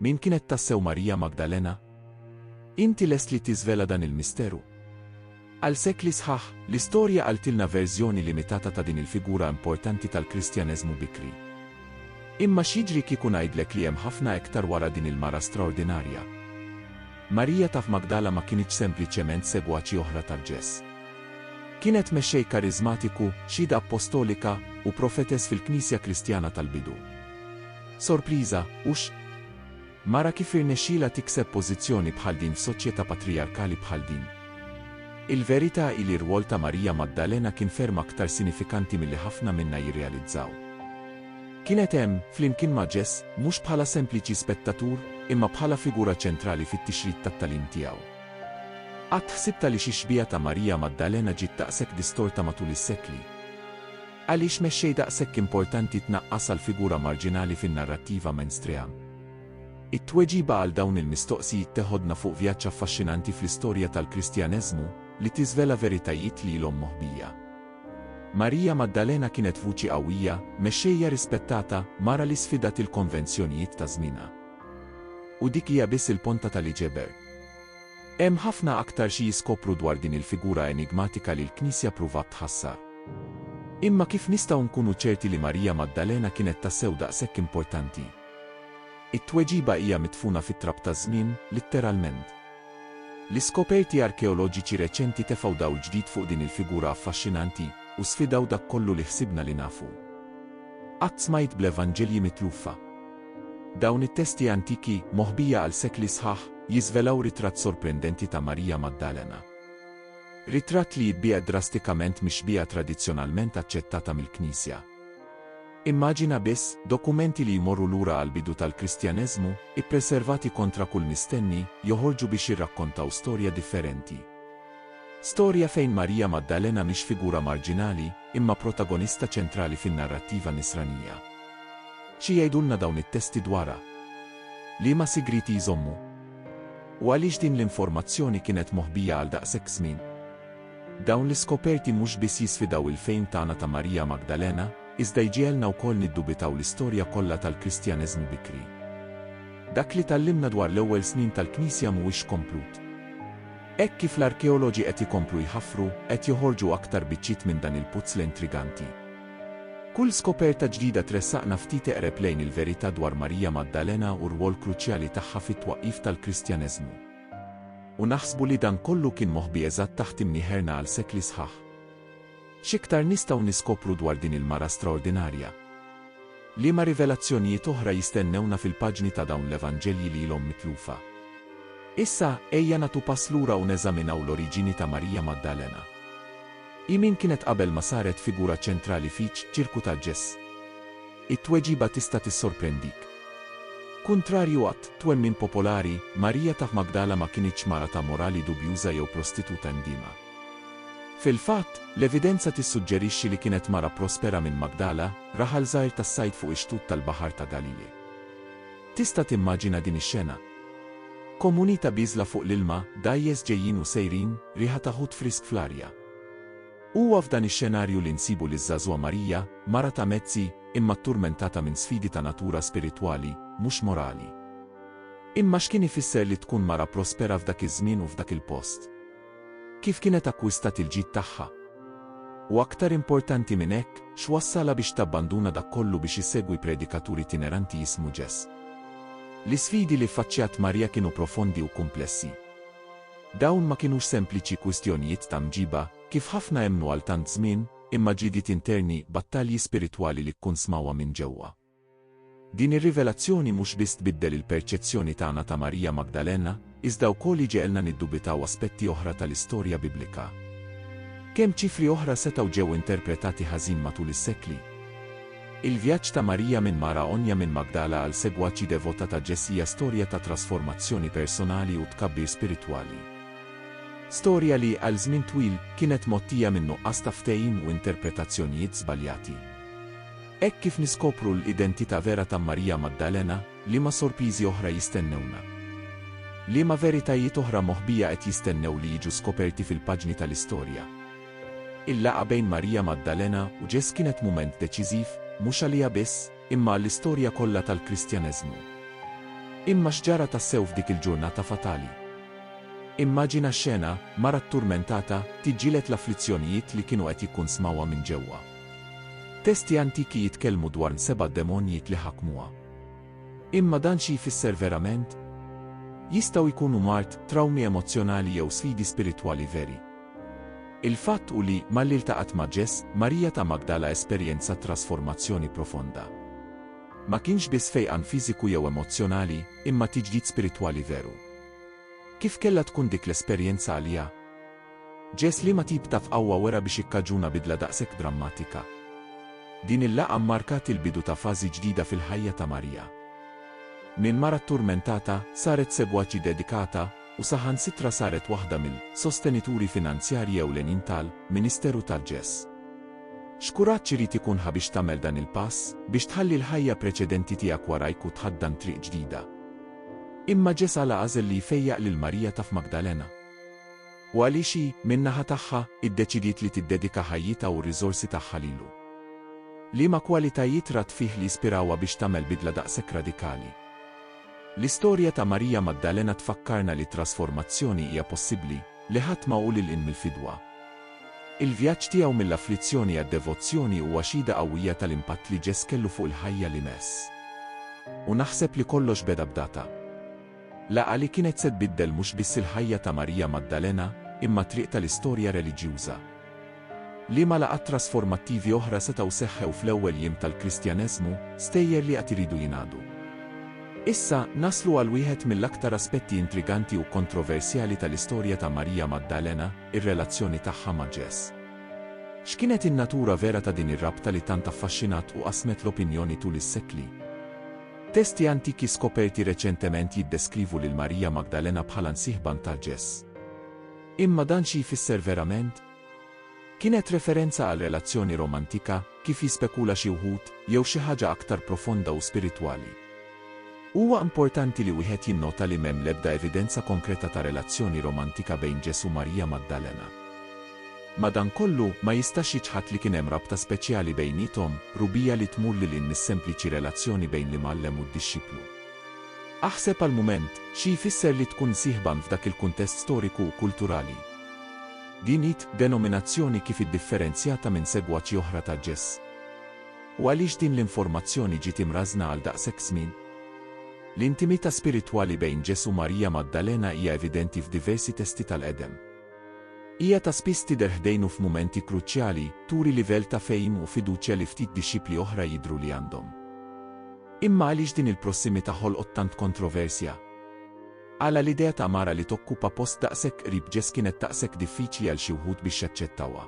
Min kienet tassew Marija Magdalena? Inti lest li tiżvela dan il-misteru? Għal sekli sħaħ, l-istorja qaltilna verżjoni limitata ta' din il-figura importanti tal-Kristjaneżmu bikri. Imma x'jiġri kieku ngħidlek li hemm ħafna iktar wara din il-mara straordinarja? Marija ta' f'Magdala ma kinitx sempliċement segwaċi oħra tal-Ġess. Kienet mexxej kariżmatiku, xhieda appostolika, u profetess fil-Knisja Kristjana tal-bidu. Sorpriża, hux? Mara kif irnexxielha tikseb pożizzjoni bħal din f'soċjetà patrijarkali bħal din? Il-verità hi li r-rwol ta' Marija Magdalena kien ferm aktar sinifikanti milli ħafna minna jirrealizzaw. Kienet hemm, flimkien ma' Ġess, mhux bħala sempliċi spettatur, imma bħala figura ċentrali fit-tixrid tat-tagħlim tiegħu. Qatt ħsibt għaliex ix-xbieha ta' Marija Magdalena ġiet daqshekk distorta matul is-sekli? Għaliex mexxej daqshekk importanti tnaqqas għal figura marġinali fin-narrattiva mainstream? It-tweġiba għal dawn il-mistoqsijiet teħodna fuq vjaġġ affaxxinanti fl-istorja tal-Kristjaneżmu li tiżvela veritajiet li ilhom moħbija. Marija Maddalena kienet vuċi qawwija, mexxejja rispettata, mara li sfidat il-konvenzjonijiet ta' żmienha. U dik hija biss il-ponta tal-iġeber. Hemm ħafna aktar xi jiskopru dwar din il-figura enigmatika li l-Knisja pruvat tħassar. Imma kif nistgħu nkunu ċerti li Marija Maddalena kienet tassew daqshekk importanti? It-tweġiba hija midfuna fit-trab taż-żmien, litteralment. L-iskoperti arkeoloġiċi reċenti tefgħu dawl ġdid fuq din il-figura affaxxinanti u sfidaw dak kollu li ħsibna li nafu. Qatt smajt bl-Evanġelji mitlufa. Dawn it-testi antiki, moħbija għal sekli sħaħ, jiżvelaw ritratt sorprendenti ta' Marija Maddalena. Ritratt li jibbiegħed drastikament mix-xbieha tradizzjonalment aċċettata mill-Knisja. Immaġina biss, dokumenti li jmorru lura għall-bidu tal-Kristjaneżmu, ippreservati kontra kull mistenni, joħorġu biex jirrakkontaw storja differenti. Storja fejn Marija Maddalena mhix figura marġinali, imma protagonista ċentrali fin-narrattiva Nisranija. Xi jgħidulna dawn it-testi dwarha? Liema sigrieti jżommu? U għaliex din l-informazzjoni kienet moħbija għal daqshekk żmien? Dawn l-iskoperti mhux biss jisfidaw il-fehim tagħna ta' Marija Magdalena, iżda jġiegħelna wkoll niddubitaw l-istorja kollha tal-Kristjaneżmu bikri. Dak li tgħallimna dwar l-ewwel snin tal-Knisja mhuwiex komplut. Hekk kif l-arkeoloġi qed ikomplu jħaffru, qed joħorġu aktar biċċiet minn dan il-puzzle intriganti. Kull skoperta ġdida tressaqna ftit eqreb lejn il-verità dwar Marija Maddalena u r-rwol kruċjali tagħha fit-twaqqif tal-Kristjaneżmu. U naħsbu li dan kollu kien moħbi eżatt taħt imnieħerna għal sekli sħaħ. X'iktar nistgħu niskopru dwar din il-mara straordinarja? Liema rivelazzjonijiet oħra jistennewna fil-paġni ta' dawn l-Evanġelji li ilhom mitlufa? Issa, ejja nagħtu pass lura u neżaminaw l-oriġini ta' Marija Maddalena. Hi min kienet qabel ma saret figura ċentrali fiċ-ċirku ta' Ġes? It-tweġiba tista' tissorprendik. Kuntrarju għat, twemmin popolari, Marija ta' Magdala ma kinitx mara ta' morali dubjuża jew prostituta ndiema. Fil-fatt, l-evidenza tissuġġerixxi li kienet mara prospera minn Magdala, raħal żgħir tas-sajd fuq ix-xtut tal-Baħar ta' Galili. Tista' timmaġina din ix-xena? Komuni ta' biżla fuq l-ilma, dgħajjes ġejjin u sejrin, riħa ta' ħut frisk fl-arja. Huwa f'dan ix-xenarju li nsibu liż-żagħżugħa Marija, mara ta' mezzi, imma tturmentata minn sfidi ta' natura spiritwali, mhux morali. Imma x'kien ifisser li tkun mara prospera f'dak iż-żmien u f'dak il-post? Kif kienet akkwistat il-ġid tagħha? U aktar importanti minn hekk, x'wassalha biex tabbanduna dak kollu biex issegwi predikatur itineranti jismu Ġess? L-isfidi li ffaċċjat Marija kienu profondi u kumplessi. Dawn ma kinux sempliċi kwistjonijiet ta' mġiba, kif ħafna emmnu għal tant żmien, imma ġlidiet interni, battalji spiritwali li kkunsmawha minn ġewwa. Din ir-rivelazzjoni mhux biss tbiddel il-perċezzjoni tagħna ta' Marija Magdalena, iżda wkoll iġegħelna niddubitaw aspetti oħra tal-istorja Biblika. Kemm ċifri oħra setgħu ġew interpretati ħażin matul is-sekli? Il-vjaġġ ta' Marija minn mara għonja minn Magdala għal segwaċi devota ta' Ġess hija storja ta' trasformazzjoni personali u tkabbir spiritwali. Storja li, għal żmien twil, kienet mgħottija minn nuqqas ta' ftehim u interpretazzjonijiet żbaljati. Hekk kif niskopru l-identità vera ta' Marija Maddalena, liema sorpiżi oħra jistennewna? Liema veritajiet oħra moħbija qed jistennew li jiġu skoperti fil-paġni tal-istorja? Il-laqgħa bejn Marija Maddalena u Ġess kienet mument deċiżiv, mhux għaliha biss, imma għall-istorja kollha tal-Kristjaneżmu. Imma x'ġara tassew f'dik il-ġurnata fatali? Immaġina x-xena, mara tturmentata, tiġġieled l-afflizzjonijiet li kienu qed jikkunsmawha minn ġewwa. Testi antiki jitkellmu dwar n-seba' demonjiet li ħakmuha. Imma dan xi jfisser verament? Jistgħu jkunu mard, trawmi emozzjonali jew sfidi spiritwali veri. Il-fatt hu li, malli ltaqgħet ma' Ġeż, Marija ta' Magdala esperjenzat trasformazzjoni profonda. Ma kienx biss fejqan fiżiku jew emozzjonali, imma tiġdid spiritwali veru. Kif kellha tkun dik l-esperjenza għaliha? Ġest liema tip ta' fqawwa wera biex ikkaġuna bidla daqshekk drammatika? Din il-laqgħa mmarkat il-bidu ta' fażi ġdida fil-ħajja ta' Marija. Minn mara tturmentata, saret segwaċi dedikata, u saħansitra saret waħda mill, sostenituri finanzjarji ewlenin tal, ministeru ta' Ġess. X'kuraġġ irid ikunha biex tagħmel dan il-pass, biex tħalli l-ħajja preċedenti tiegħek warajk u tħaddan triq ġdida? Imma Ġess għala għażel li jfejjaq lil Marija ta' f'Magdalena? U għaliex hi, min-naħa tagħha, iddeċidiet li tiddedika ħajjitha u r-riżorsi tagħha lilu? Liema kwalitajiet rat fih li jispirawha biex tagħmel bidla daqshekk radikali? L-istorja ta' Marija Maddalena tfakkarna li t-trasformazzjoni hija possibbli, li ħadd ma hu lil hinn mill-fidwa. Il-vjaġġ tiegħu mill-afflizzjoni għad-devozzjoni huwa xhieda qawwija tal-impatt li Ġess kellu fuq il-ħajja li mess. U naħseb li kollox beda b'data. Laqgħa li kienet se tbiddel mhux biss il-ħajja ta' Marija Maddalena, imma t-triq tal-istorja reliġjuża. Liema laqgħat trasformattivi oħra setgħu seħħew fl-ewwel jiem tal-Kristjaneżmu, stejjer li għad iridu jingħadu? Issa, naslu għal wieħed mill-aktar aspetti intriganti u kontroversjali tal-istorja ta' Marija Maddalena, ir-relazzjoni tagħha ma' Ġess. X'kienet in-natura vera ta' din ir-rabta li tant affaxxinat u qasmet l-opinjoni tul is-sekli? Testi antiki skoperti reċentement jiddeskrivu lil Marija Magdalena bħala nsieħba nta' Ġess. Imma dan xi jfisser verament? Kienet referenza għal relazzjoni romantika, kif jispekula xi wħud, jew xi ħaġa aktar profonda u spiritwali? Huwa importanti li wieħed jinnota li m'hemm l-ebda evidenza konkreta ta' relazzjoni romantika bejn Ġess u Marija Magdalena. Madankollu, ma jistax jiċħad li kien hemm rabta speċjali bejniethom, rubija li tmur lil hinn mis-sempliċi relazzjoni bejn l-imgħallem u d-dixxiplu. Aħseb għal mument, xi jfisser li tkun sieħban f'dak il-kuntest storiku u kulturali. Din hi d-denominazzjoni kif iddifferenzjata minn segwaċi oħra ta' Ġes. U għaliex din l-informazzjoni ġiet imrażżna għal daqshekk żmien? L-intimità spiritwali bejn Ġesù u Marija Maddalena hija evidenti f'diversi testi tal-Qedem. Hija ta' spiss tidher ħdejnu f'mumenti kruċjali, turi livell ta' fehim u fiduċja li ftit dixxipli oħra jidhru li għandhom. Imma għaliex din il-prossimità ħolqot tant kontroversja? Għala l-idea ta' mara li tokkupa post daqshekk qrib Ġess kienet daqshekk diffiċli għal xi wħud biex jaċċettawha?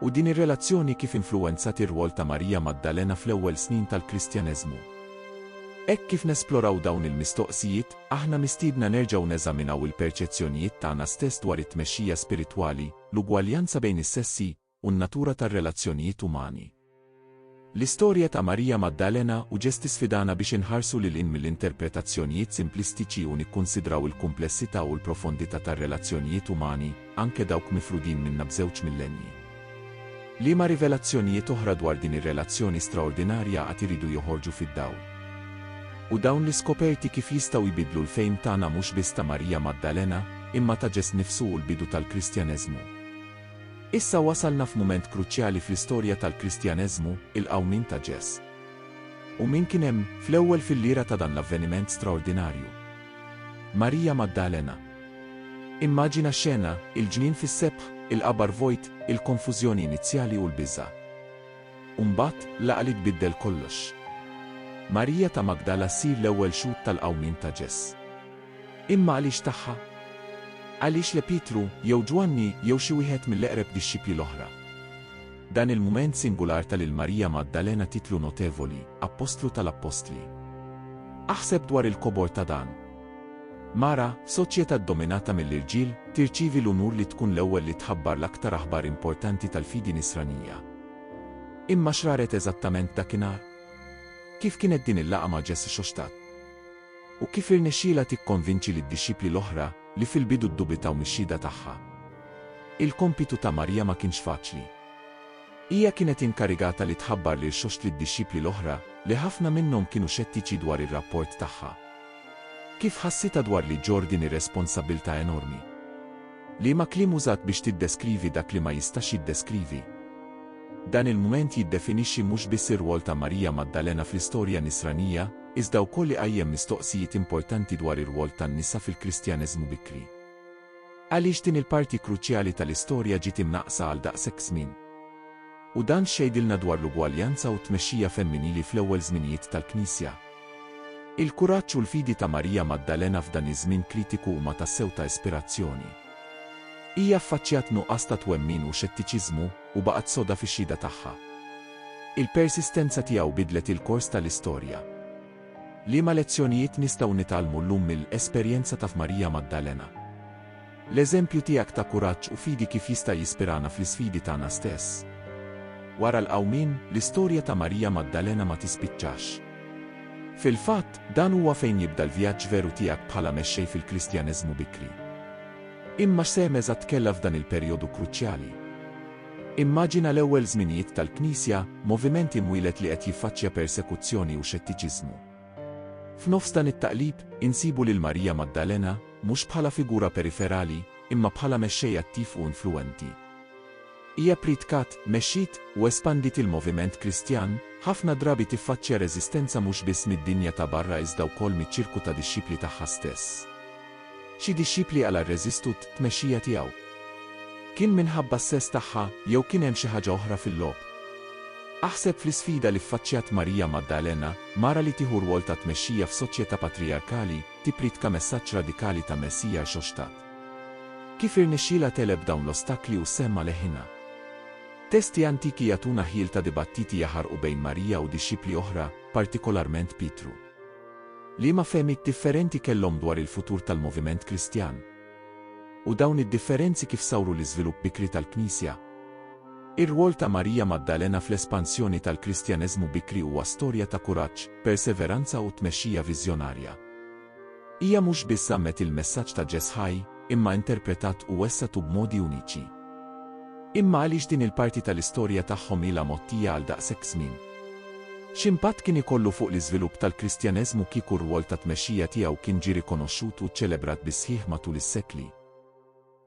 U din ir-relazzjoni kif influwenzat ir-rwol ta' Marija Maddalena fl-ewwel snin tal-Kristjaneżmu? Hekk kif nesploraw dawn il-mistoqsijiet, Aħna mistiedna nerġgħu neżaminaw il-perċezzjonijiet tagħna stess dwar it-tmexxija spiritwali, l-ugwaljanza bejn is-sessi, u n-natura tar-relazzjonijiet umani. L-istorja ta' Marija Maddalena u Ġess tisfidana biex inħarsu lil hinn mill-interpretazzjonijiet simplistiċi u nikkunsidraw il-kumplessità u l-profondità tar-relazzjonijiet umani, anke dawk mifrudin minna b'żewġ millennji. Liema rivelazzjonijiet oħra dwar din ir-relazzjoni straordinarja għad iridu joħorġu fid-dawl? U dawn l-iskoperti kif jistgħu jbiddlu l-fehm tagħna mhux biss ta' Marija Maddalena, imma ta' Ġest nifsu u l-bidu tal-Kristjaneżmu? Issa wasalna f'mument kruċjali fl-istorja tal-Kristjaneżmu, il-qawmien ta' Ġest. U min kien hemm, fl-ewwel fil-lira ta' dan l-avveniment straordinarju? Marija Maddalena. Immaġina xena, il-ġnien fis-sebħ, il-qabar vojt, il-konfużjoni inizjali u l-biża'. U mbagħad, l-għaqli tbiddel kollox. Marija ta' Magdala ssir l-ewwel xhud tal-qawmien ta' Ġes. Imma għaliex tagħha? Għaliex le Pietru, jew Ġwanni, jew xi wieħed mill-eqreb dixxipli l-oħra? Dan il-mument singular ta' lil Marija Maddalena titlu notevoli, appostlu tal-appostli. Aħseb dwar il-kobor ta' dan, Mara, f'soċjetà ddominata mill-irġiel, tirċievi l-unur li tkun l-ewwel li tħabbar l-aktar aħbar importanti tal-fidi Nisranija. Imma x'raret eżattament dakinhar? Kif kienet din il-laqgħa ma' Ġesù Xoxtat? U kif irnexxielha tikkonvinċi lid-dixxipli l-oħra, li fil-bidu ddubitaw mix-xhieda tagħha? Il-kompitu ta' Marija ma kienx faċli. Hija kienet inkarigata li tħabbar lil Xoxt lid-dixxipli l-oħra, li ħafna minnhom kienu xettiċi dwar ir-rapport tagħha. Kif ħassitha dwar li ġġorr din ir-responsabbiltà enormi? Liema kliem użat biex tiddeskrivi dak li ma jistax jiddeskrivi? Dan il-mument jiddefinixxi mhux biss ir-rwol ta' Marija Maddalena fl-istorja Nisranija, iżda wkoll iqajjem mistoqsijiet importanti dwar ir-rwol tan-nisa fil-Kristjaneżmu bikri. Għaliex din il-parti kruċjali tal-istorja ġiet imnaqqsa għal daqshekk żmien? U dan x'jgħidilna dwar l-ugwaljanza u t-tmexxija femminili fl-ewwel żminijiet tal-Knisja? Il-kuraġġ u l-fidi ta' Marija Maddalena f'dan iż-żmien kritiku huma tassew ta' ispirazzjoni. Hija ffaċċjat nuqqas ta' twemmin u xettiċiżmu, u baqgħet soda fix-xhieda tagħha. Il-persistenza tiegħu biddlet il-kors tal-istorja. Liema lezzjonijiet nistgħu nitgħallmu llum mill-esperjenza ta' f'Marija Maddalena? L-eżempju tiegħek ta' kuraġġ u fidi kif jista' jispirana fl-isfidi tagħna stess? Wara l-Qawmien, l-istorja ta' Marija Maddalena ma tispiċċax. Fil-fatt, dan huwa fejn jibda l-vjaġġ veru tiegħek bħala mexxej fil-Kristjaneżmu bikri. Imma x'sehem eżatt kellha f'dan il-perjodu kruċjali? Immaġina l-ewwel żminijiet tal-Knisja, moviment imwieled li qed jiffaċċja persekuzzjoni u xettiċiżmu. F'nofs dan it-taqlib, insibu lil Marija Magdalena, mhux bħala figura periferali, imma bħala mexxej attiv u influwenti. Hija ppritkat, mexxiet, u espandiet il-moviment Kristjan, ħafna drabi tiffaċċja reżistenza mhux biss mid-dinja ta' barra iżda wkoll miċ-ċirku ta' dixxipli tagħha stess. Xi dixxipli għala rreżistu t-tmexxija tiegħu? Kien minħabba s-sess tagħha jew kien hemm xi ħaġa oħra fil-logħob? Aħseb fl-isfida li ffaċċjat Marija Maddalena, mara li tieħu rwol ta' tmexxija f'soċjetà patrijarkali, tippriedka messaġġ radikali ta' Messija rxoxtat. Kif irnexxielha tegħleb dawn l-ostakli u s-sehem ma' leħinha? Testi antiki jagħtuna ħjiel ta' dibattiti jaħarqu bejn Marija u dixxipli oħra, partikolarment Pietru. Liema fehmiet differenti kellhom dwar il-futur tal-moviment Kristjan? U dawn id-differenzi kif sawru l-iżvilupp bikri tal-Knisja? Ir-rwol ta' Marija Maddalena fl-espansjoni tal-Kristjaneżmu bikri huwa storja ta' kuraġġ, perseveranza u tmexxija viżjonarja. Hija mhux biss żammet il-messaġġ ta' Ġes' ħaj, imma interpretat u wessatu b'modi uniċi. Imma għaliex din il-parti tal-istorja tagħhom ilha mgħottija għal daqshekk żmien? X'impatt kien ikollu fuq l-iżvilupp tal-Kristjaneżmu kieku r-rwol ta' tmexxija tiegħu kien ġie rikonoxxut u ċċelebrat bis-sħiħ matul is-sekli?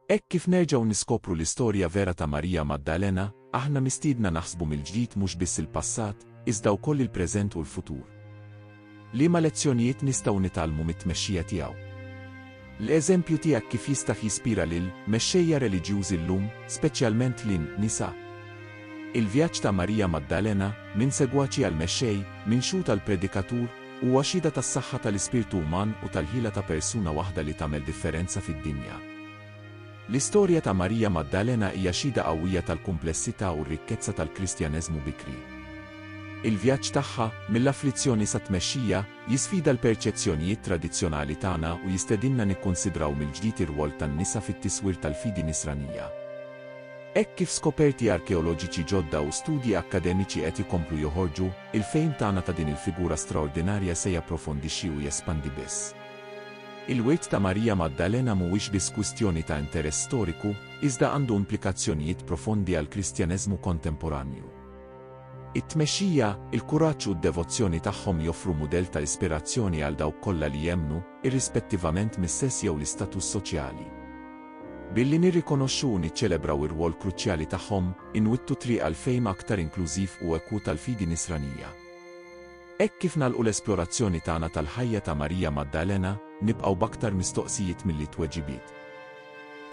Hekk kif nerġgħu niskopru l-istorja vera ta' Marija Maddalena, aħna mistiedna naħsbu mill-ġdid mhux biss il-passat, iżda wkoll il-preżent u l-futur. Liema lezzjonijiet nistgħu nitgħallmu mit-tmexxija tiegħu? L-eżempju tiegħek kif jistax jispira lil mexxejja reliġjużi llum, speċjalment lin, nisa? Il-vjaġġ ta' Marija Maddalena, minn segwaċi għal mexxej, minn xhud għal predikatur, huwa xhieda tas-saħħa tal-ispirtu uman u tal-ħila ta' persuna waħda li tagħmel differenza fid-dinja. L-istorja ta' Marija Maddalena hija xhieda qawwija tal-kumplessità u r-rikkezza tal-Kristjaneżmu bikri. Il-vjaġġ tagħha, mill-afflizzjoni sat-tmexxija, jisfida l-perċezzjonijiet tradizzjonali tagħna u jistedinna nikkunsidraw mill-ġdid ir-rwol tan-nisa fit-tiswir tal-fidi Nisranija. Hekk kif skoperti arkeoloġiċi ġodda u studji akkademiċi qed ikomplu joħorġu, il-fehim tagħna ta' din il-figura straordinarja se japprofondixxi u jespandi biss. Il-wirt ta' Marija Maddalena mhuwiex biss kwistjoni ta' interess storiku, iżda għandu implikazzjonijiet profondi għall-Kristjaneżmu kontemporanju. It-tmexxija, il-kuraġġ u d-devozzjoni tagħhom joffru mudell ta' ispirazzjoni għal dawk kollha li jemmnu, irrispettivament mis-sess jew l-istatus soċjali. Billi nirrikonoxxu u niċċelebraw ir-rwol kruċjali tagħhom, inwittu t-triq għal fehim aktar inklużiv u ekwu tal-fidi Nisranija. Hekk kif nagħlqu l-esplorazzjoni tagħna tal-ħajja ta' Marija Maddalena, nibqgħu b'aktar mistoqsijiet milli tweġibiet.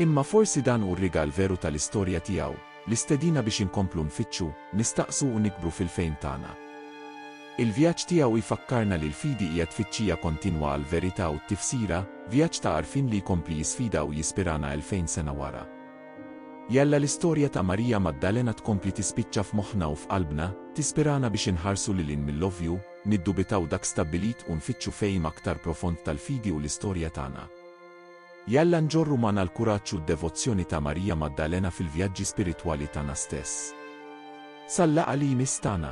Imma forsi dan hu r-rigal veru tal-istorja tiegħu, l-istedina biex inkomplu nfittxu, nistaqsu u nikbru fil-fehim tagħna. Il-vjaġġ tiegħu jfakkarna li l-fidi hija tfittxija kontinwa għall-verità u t-tifsira, vjaġġ ta' għarfien li jkompli jisfida u jispirana elfejn sena wara. Jalla l-istorja ta' Marija Maddalena tkompli tispiċċa f'moħħna u f'qalbna, tispirana biex inħarsu lil hinn mill-ovvju, niddubitaw dak stabbilit u nfittxu fehim aktar profond tal-fidi u l-istorja tagħna. Jalla nġorru magħna l-kuraġġ u d-devozzjoni ta' Marija Maddalena fil-vjaġġi spiritwali tagħna stess. Sal-laqgħa li jmiss tagħna!